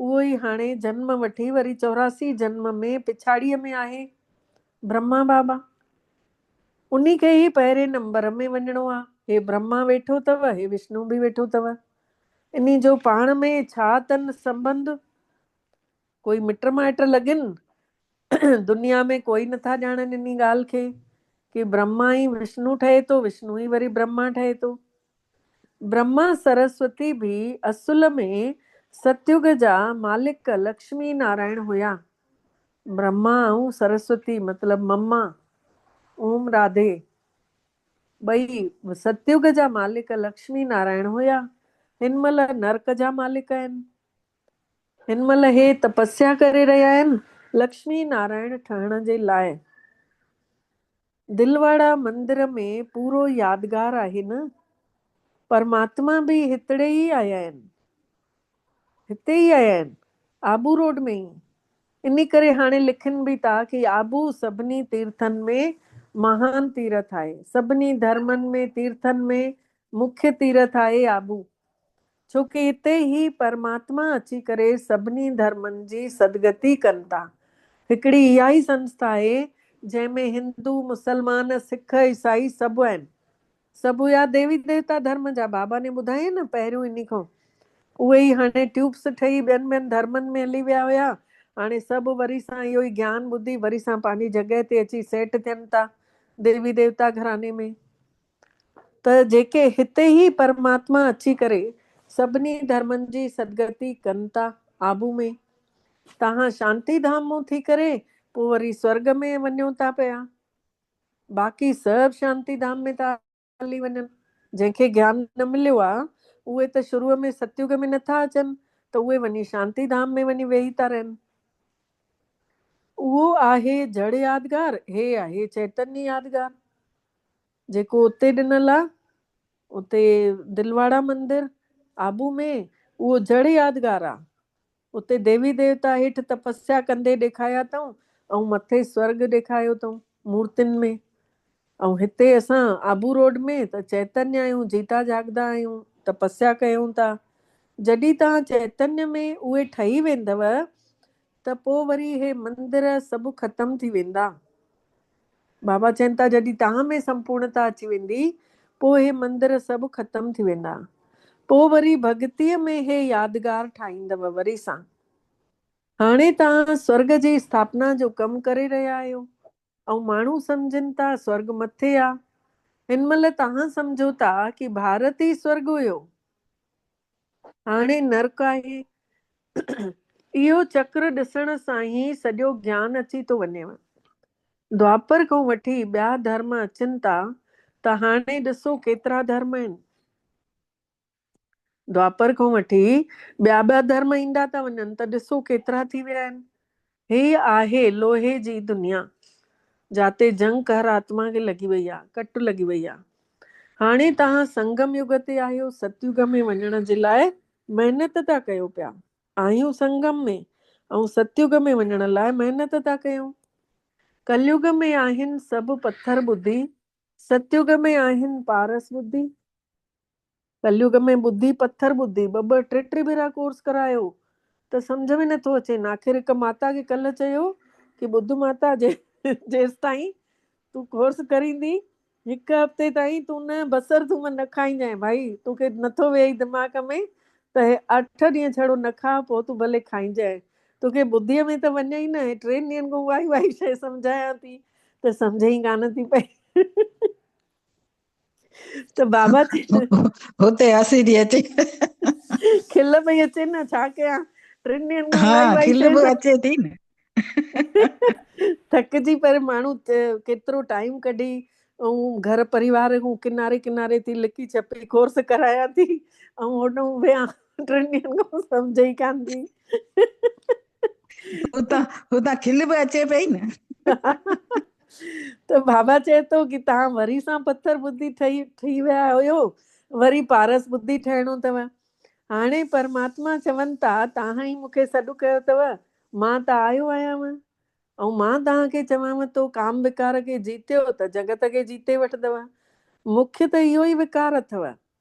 اهو ئي هاڻي جنم وٺي وري چوراسي جنم ۾ پڇاڙيء ۾ آهي. برهما بابا، انهي کي ئي پهرين نمبر ۾ وڃڻو آ. هي برهما ويٺو تئو، هي وشنو به ويٺو تئو. انهي جو پاڻ ۾ ڇا تن سنبنڌ؟ ڪوئي مٽ مائٽ لڳين، دنيا ۾ ڪوئي نه ٿا ڄاڻن انهي ڳالهه کي، ڪي برهما ئي وشنو ٺهي ٿو، وشنو ئي وري برهما ٺهي ٿو. برهما سرسوتي به اصل ۾ ستيوڳ جا مالڪ لڪشمي نارائڻ هيا. برهما ۽ سرسوتي مطلب مما اوم راڌي ٻئي ستيوڳ جا مالڪ لڪشمي نارائڻ هيا، هن مهل نرڪ جا مالڪ آهن. هن مهل هي تپسيا ڪري رهيا آهن لڪشمي نارائڻ ٺهڻ جي لاء. دلواڙا مندر ۾ پورو يادگار آهي نه. پرماتما به هتڙي ئي آيا آهن. هتي ئي آيا آهن. آبو روڊ ۾ ئي. انهي ڪري هاڻي لکين به ٿا ڪي آبو سڀني تيرٿن ۾ مهان تيرٿ آهي. سڀني ڌرمن ۾ تيرٿن ۾ مکيه تيرٿ آهي آبو. ڇو ڪي هتي ئي پرماتما اچي ڪري سڀني ڌرمن جي سدگتي ڪن ٿا. هڪڙي اها ئي سنسٿا آهي جنهن ۾ هندو، مسلمان، سک، عيسائي سڀ آهن. سڀ هيا ديوي ديوتا ڌرم جا بابا ني ٻڌايئي نه پهريون انهي کان. اهي ئي هاڻي ٽيوبس ٺهي ٻين ٻين ڌرمن ۾ هلي ويا هيا. هاڻي سڀ وري سان اهو ئي گيان ٻڌي وري سان پنهنجي جڳهه تي اچي سيٽ ٿين ٿا ديوي ديوتا گهراني ۾. ته جيڪي هتي ئي پرماتما اچي ڪري سڀني ڌرمن جي سدگتي ڪن ٿا. آبو ۾، تهان شانتي ڌام مون ٿي ڪري پوء وري سورڳ ۾ وڃو ٿا پيا. باقي سڀ شانتي ڌام ۾ ٿا هلي وڃن. جنهن کي گيان نه مليو آ، اهي ته شروع ۾ ستيوڳ ۾ نه ٿا اچن ته اهي وڃي شانتي ڌام ۾ وڃي ويهي ٿا رهن. اهو آهي جڙ يادگار، هي آهي چيتني يادگار. جيڪو اتي ڏنل آ، اتي دلواڙا مندر، آبو ۾، اهو جڙ يادگار آ. اتي ديوي ديوتا هيٺ تپسيا ڪندي ڏيکايا اٿئون ۽ مٿي سورڳ ڏيکايو اٿئون مورتين ۾. ۽ هتي اسان آبو روڊ ۾ ته چئتنيا آهيون، جيتا جاڳدا آهيون، تپسيا ڪيون ٿا. جڏهن توهان چئتنيا ۾ اهي ٺهي ويندؤ ته پوء وري هي مندر سڀ ختم ٿي ويندا. بابا چين ٿا جڏهن تان ۾ سمپورڻتا اچي ويندي پوء هي مندر سڀ ختم ٿي ويندا پوء وري ڀڳتيء ۾ هي يادگار ٺاهيندؤ وري سان. هاڻي تان سورگ جي اسٿاپنا جو ڪم ڪري رهيا آهيو ۽ ماڻهو سمجهن ٿا سورگ مٿي آ هن مهل تان سمجهو ٿا ڪي ڀارت ئي سورگ هيو. هاڻي نرڪ آهي. اهو چڪر ڏسڻ سان ئي سڄو گيان اچي ٿو وڃيو. دوآپر کان وٺي ٻيا ڌرم اچن ٿا ته هاڻي ڏسو ڪيترا ڌرم آهن. دوآپر کان وٺي ٻيا ٻيا ڌرم ايندا ٿا وڃن ته ڏسو ڪيترا ٿي ويا آهن. هيء آهي لوهي جي دنيا، جاتي جنگ قهر آتما کي لڳي وئي آ، ڪٽ لڳي وئي آ. هاڻي توهان سنگم يگ تي آهيو، ستيوگ ۾ وڃڻ جي لاء محنت ٿا ڪيو پيا. آهيون سنگم ۾ ۽ ستيوگ ۾ وڃڻ لاء محنت ٿا ڪيون. ڪليوگ ۾ آهن سڀ پٿر ٻڌي، ستيوگ ۾ آهن پارس ٻڌي. ڪليوڳ ۾ ٻڌي پٿر ٻڌي ٻه ٻه ٽي ٽي ڀيرا ڪورس ڪرايو ته سمجهه ۾ نٿو اچين آخر هڪ ماتا کي ڪلهه چيو ڪي ٻڌ ماتا جي جيستائين تون ڪورس ڪريندي هڪ هفتي تائين تون نه بصر ٿوم نه کائينجانء ڀائي توکي نٿو ويهي دماغ ۾ ته هي اٺ ڏينهن ڇڙو نه کاء پوء تون ڀلي کائينجانء توکي ٻڌيء ۾ ته وڃي ئي نه ٽن ڏينهن کان اهائي اهائي شيء سمجهايان ٿي ته سمجهه ئي ڪانه ٿي پئي. ته بابا هتي هسي ٿي اچي کل پئي اچي نه ڇا ڪيان ٽن ڏينهن کان الائي وائي کل به اچي ٿي نه ٿڪجي پر ماڻهو ڪيترو ٽائيم ڪڍي ۽ گهر پريوار کان ڪناري ڪناري ٿي لڪي ڇپي ڪورس ڪرايا ٿي ۽ هوڏنهن ويا ٽن ڏينهن کان سمجهه ئي ڪانه ٿي اتان اتان کل به اچي پئي نه. ته بابا چئي ٿو ڪي تهان وري سان پٿر ٻڌي ٺهي ٺهي ويا هيو وري پارس ٻڌي ٺهڻو اٿو هاڻي پرماتما چون ٿا تهان ئي مونکي سڏ ڪيو اٿو مان ته آيو آهيان ۽ مان تهان کي چوان ٿو ڪام وڪار کي جيتيو ته جڳت کي جيتي وٺندو مونکي ته اهو ئي وڪار اٿو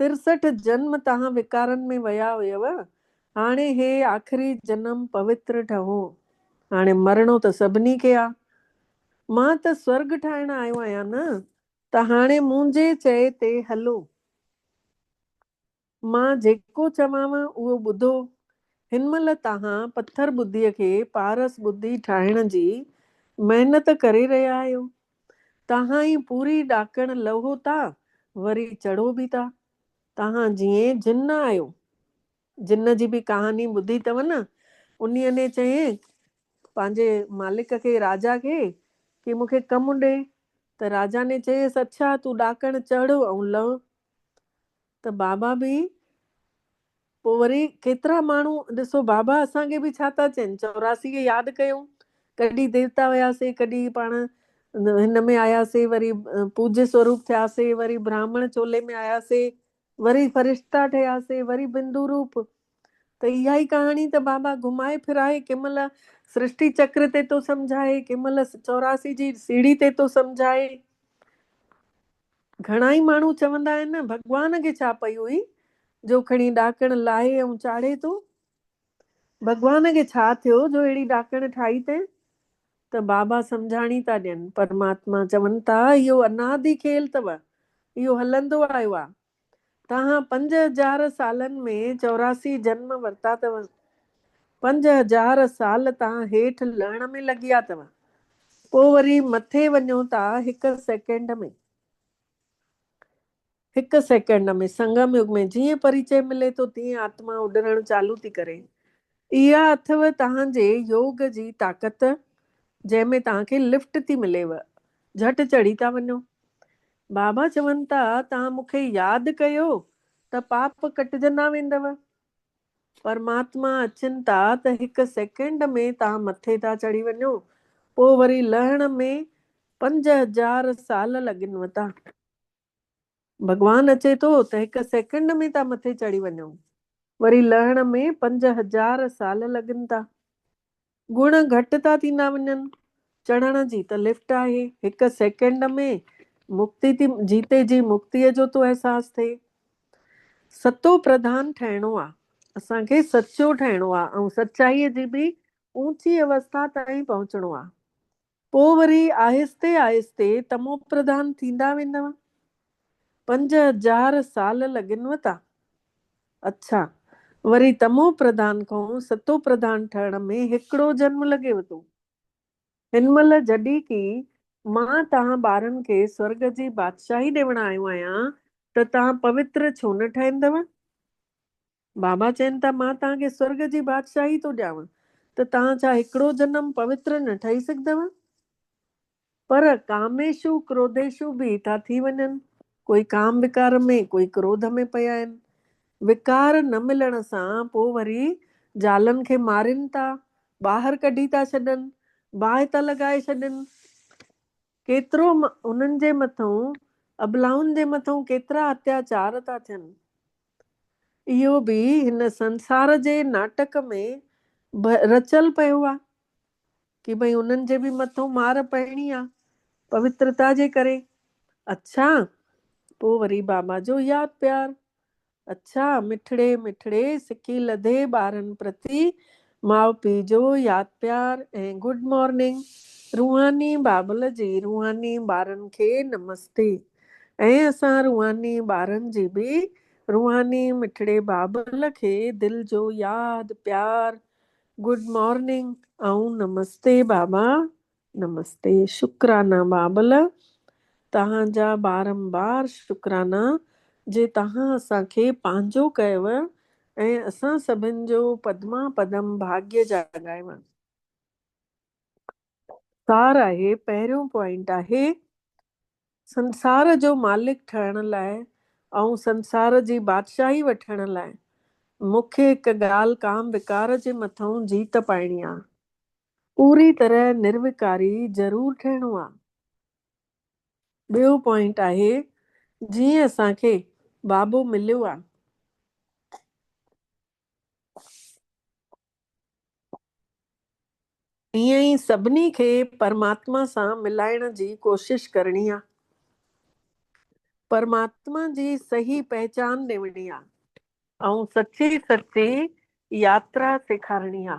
ترسٺ جنم تهان وڪارن ۾ ويا هيئو، هاڻي هي آخري جنم پوتر ٺهو، هاڻي مرڻو ته سڀني کي آ، مان ته سورڳ ٺاهڻ آيو آهيان نه، ته هاڻي منهنجي چئي تي هلو. مان جيڪو چوانو اهو ٻڌو، هن مهل تهان پٿر ٻڌيء کي پارس ٻڌي ٺاهڻ جي محنت ڪري رهيا آهيو، تهائين پوري ڏاڪڻ لهو تا، وري چڙهو به تا. تهان جيئين جن آهيو. جن جي به ڪهاڻي ٻڌي اٿئو نه. انهي ني چيائين پنهنجي مالڪ کي، راجا کي، ڪي مون کي ڪم ڏي. ته راجا ني چيس، اڇا تون ڏاڪڻ چڙهه ۽ لهه. ته بابا به پوء وري ڪيترا ماڻهو ڏسو بابا اسان کي به ڇا ٿا چين چوراسي کي ياد ڪيون ڪڏهن ديوتا هياسي ڪڏهن پاڻ هن ۾ آياسي وري پوجي سوروپ ٿياسي وري براهمڻ چولي ۾ آياسي وري فرشتا ٺهياسي وري بندو روپ ته اها ئي ڪهاڻي ته بابا گهمائي ڦرائي ڪنهن مهل سرشٽي چڪر تي ٿو سمجهائي ڪنهن مهل چوراسي جي سيڙهي تي ٿو سمجهائي گهڻائي ماڻهو چوندا آهن نه ڀڳوان کي ڇا پئي هئي جو کڻي ڏاڪڻ لاهي ۽ چاڙهي ٿو. ڀڳوان کي ڇا ٿيو جو اهڙي ڏاڪڻ ٺاهي تين؟ ته بابا سمجهاڻي ٿا ڏين، پرماتما چون ٿا اهو انادي کيل اٿو، اهو هلندو آيو آهي، تهان پنج هزار سالن ۾ چوراسي جنم ورتا اٿو. پنج هزار سال تهان هيٺ لهڻ ۾ لڳيا اٿو. پوء وري مٿي وڃو ٿا هڪ سيڪنڊ ۾. هڪ سيڪنڊ ۾. سنگم يگ ۾ جيئن پريچئي ملي ٿو تيئن آتما اڏرڻ چالو ٿي ڪري. اها اٿئو توهان جي يوگ جي طاقت جنهن ۾ توهان کي لفٽ ٿي مليو جهٽ چڙهي ٿا وڃو. بابا چون ٿا توهان مون کي ياد ڪيو ته پاپ ڪٽجندا ويندو. پرماتما اچن ٿا ته هڪ سيڪنڊ ۾ توهان مٿي ٿا چڙهي وڃو پوء وري لهڻ ۾ پنج هزار سال لڳنوتا. ڀڳوان اچي ٿو ته هڪ سيڪنڊ ۾ ٿا مٿي چڙهي وڃون، وري لهڻ ۾ پنج هزار سال لڳن ٿا. گڻ گهٽ ٿا ٿيندا وڃن. چڙهڻ جي ته لفٽ آهي، هڪ سيڪنڊ ۾ مڪتي ٿي جيتي جي مڪتيء جو ٿو احساس ٿئي. ستو پرڌان ٺهڻو آ، اسان کي سچو ٺهڻو آ ۽ سچائيء جي به اوچي اوسٿا تائين پهچڻو آ. پوء وري آهستي آهستي تمو پرڌان ٿيندا ويندؤ. پنج هزار سال لڳنؤ ٿا. اڇا، وري تمو پرڌان کان ستو پرڌان ٺهڻ ۾ هڪڙو جنم لڳيو ٿو. هن مهل جڏهن ڪي مان توهان ٻارن کي سورڳ جي بادشاهي ڏيوڻ آيو آهيان ته توهان پوتر ڇو نه ٺهندؤ؟ بابا چين ٿا، مان توهان کي سرڳ جي بادشاهي ٿو ڏيانون ته توهان ڇا هڪڙو جنم پوتر نه ٺهي سگهندؤ؟ پر ڪاميشو ڪروڌيشو به ٿا ٿي وڃن، ڪوئي ڪام وڪار ۾ ڪوئي ڪروڌ ۾ پيا آهن. وقار نه ملڻ سان پوء وري زالن کي مارين ٿا، ٻاهر ڪڍي ٿا ڇڏن، باهه ٿا لڳائي ڇڏين. ڪيترو انهن جي مٿئون ابلائن جي مٿئون ڪيترا اتياچار ٿا ٿين. اهو به هن سنسار جي ناٽڪ ۾ رچيل پيو آ ڪي ڀئي انهن جي به مٿئون مار پئڻي آ پوترتا جي ڪري. اڇا پو وري بابا جو ياد پيار اڇا مٺڙي مٺڙي سڪي لڌي ٻارن پرتي ماء پيء جو ياد پيار ۽ گڊ مارننگ روحاني بابل جي روحاني ٻارن کي نمستي ۽ اسان روحاني ٻارن جي به روحاني مٺڙي بابل کي دل جو ياد پيار گڊ مارننگ ۽ نمستي بابا نمستي شڪرانا بابل توهان جا بارمبار شڪرانا جي توهان اسان کي پنهنجو ڪيو ۽ اسان سڀن جو پدما پدم ڀاگيه جاڳايو. سار آهي پهريون پوائنٽ آهي سنسار جو مالڪ ٺهڻ لاء ۽ سنسار جي بادشاهي وٺڻ لاء مون کي هڪ ڳالهه ڪام وڪار جي مٿئون جيت پائڻي آ پوري طرح نروڪاري ضرور ٺهڻو آ. ٻيو پوائنٽ آهي جيئن اسان کي بابو مليو آ. ايئن ئي سڀني کي پرماتما سان ملائڻ جي ڪوشش ڪرڻي آ. پرماتما جي صحيح پهچان ڏيوڻي آ. ۽ سچي سچي ياترا سيکارڻي آ.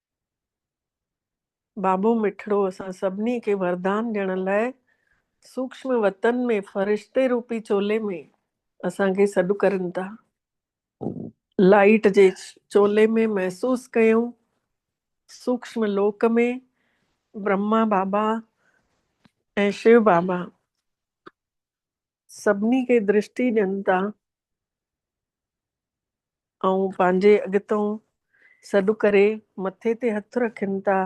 بابو مٺڙو اسان سڀني کي وردان ڏيڻ لاء سوڪشم وتن ۾ فرشتي روپي چولي ۾ اسان کي سڏ ڪرين ٿا. لائيٽ جي چولي ۾ محسوس ڪيون سوڪشم لوڪ ۾ برهما بابا ۽ شو بابا. سڀني کي درشتي ڏين ٿا ۽ پنهنجي اڳتئون سڏ ڪري مٿي تي هٿ رکين ٿا،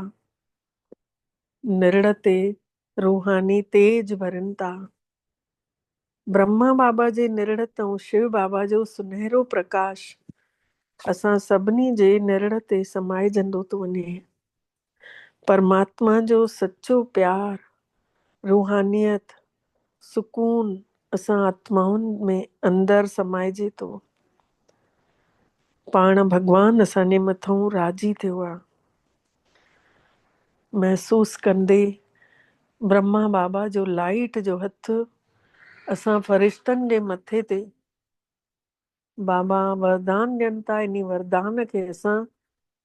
نرڙ تي روحاني تيج ڀرين ٿا. برهما بابا جي نرڙ تئون شو بابا جو سنهرو پرڪاش اسان سڀني جي نرڙ تي سمائجندو ٿو وڃي. پرماتما جو سچو پيار، روحانيت، سڪون اسان آتمائن ۾ اندر سمائجي ٿو. پاڻ ڀڳوان اسان جي مٿئون راضي ٿيو آهي. محسوس ڪندي برهما بابا جو لائيٽ جو هٿ اسان فرشتن جي مٿي تي بابا وردان ڏين ٿا انهي وردان کي اسان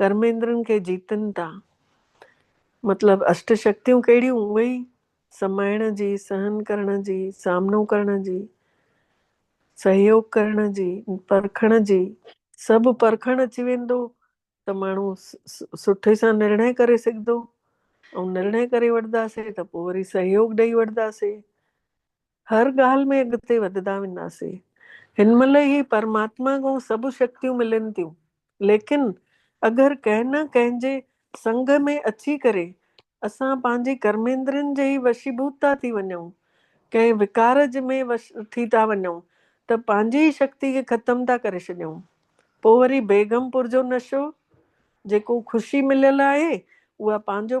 ڪرميندرن کي جيتن ٿا. مطلب اشٽ شڪتيون ڪهڙيون؟ اهي ئي، سمائڻ جي، سهن ڪرڻ جي، سامنو ڪرڻ جي، سهيوگ ڪرڻ جي، پرکڻ جي. سڀ پرکڻ اچي ويندو ته ماڻهو سٺي سان نرڻي ڪري سگهندو ۽ نرڻي ڪري وٺنداسين ته پوء وري سهيوگ ڏئي وٺنداسين. هر ڳالهه ۾ اڳتي وڌدا وينداسين. هن مهل ئي پرماتما کان سڀ شڪتيون ملن ٿيون، ليڪن اگر ڪنهن نه ڪنهن جي سنگ ۾ اچي ڪري اسان پنهنجي ڪرميندرين جي ئي وشيڀوت ٿا ٿي وڃون، ڪنهن وڪار جي ۾ وش ٿي ٿا وڃون ته پنهنجي ئي شڪتي کي ختم ٿا ڪري ڇڏيون. پوء وري بيگم پور جو نشو، جيڪو خوشي مليل آهي، اها پنهنجو.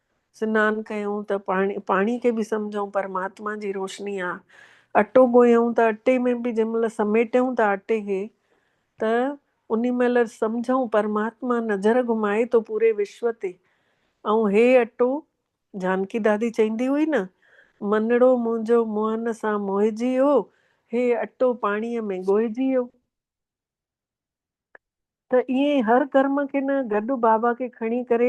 سنان ڪيون ته پاڻي، پاڻي کي به سمجهون پرماتما جي روشني آ. اٽو ڳوهيون ته اٽي ۾ به جنهن مهل سميٽيون ٿا اٽي کي ته انهي مهل سمجهون پرماتما نظر گهمائي ٿو پوري وشو تي ۽ هي اٽو جانڪي دادي چئيندي هئي نه، منڙو منهنجو موهن سان موهجي ويو، هي اٽو پاڻيء ۾ ڳوهجي ويو. ته ائين هر ڪرم کي نه گڏ بابا کي کڻي ڪري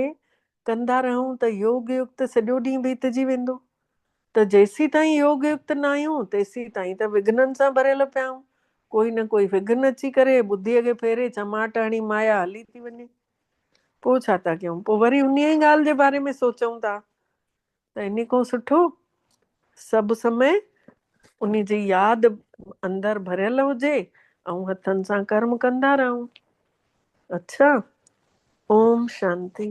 ڪندا رهون ته يوگ يڪت سڄو ڏينهن بيتجي ويندو ته جيسيتائين يوگ يڪت نه آهيون تيسيتائين ته وگهنن سان ڀريل پيا آهيون ڪوئي نه ڪوئي وگهن اچي ڪري ٻڌيء کي ڦيري چماٽ هڻي مايا هلي ٿي وڃي پوء ڇا ٿا ڪيون پوء وري انهيء ئي ڳالهه جي باري ۾ سوچون ٿا ته انهي کان سٺو سڀ سمي انهي جي ياد اندر ڀريل هجي ۽ هٿن سان ڪرم ڪندا رهون اڇا اوم شانتي.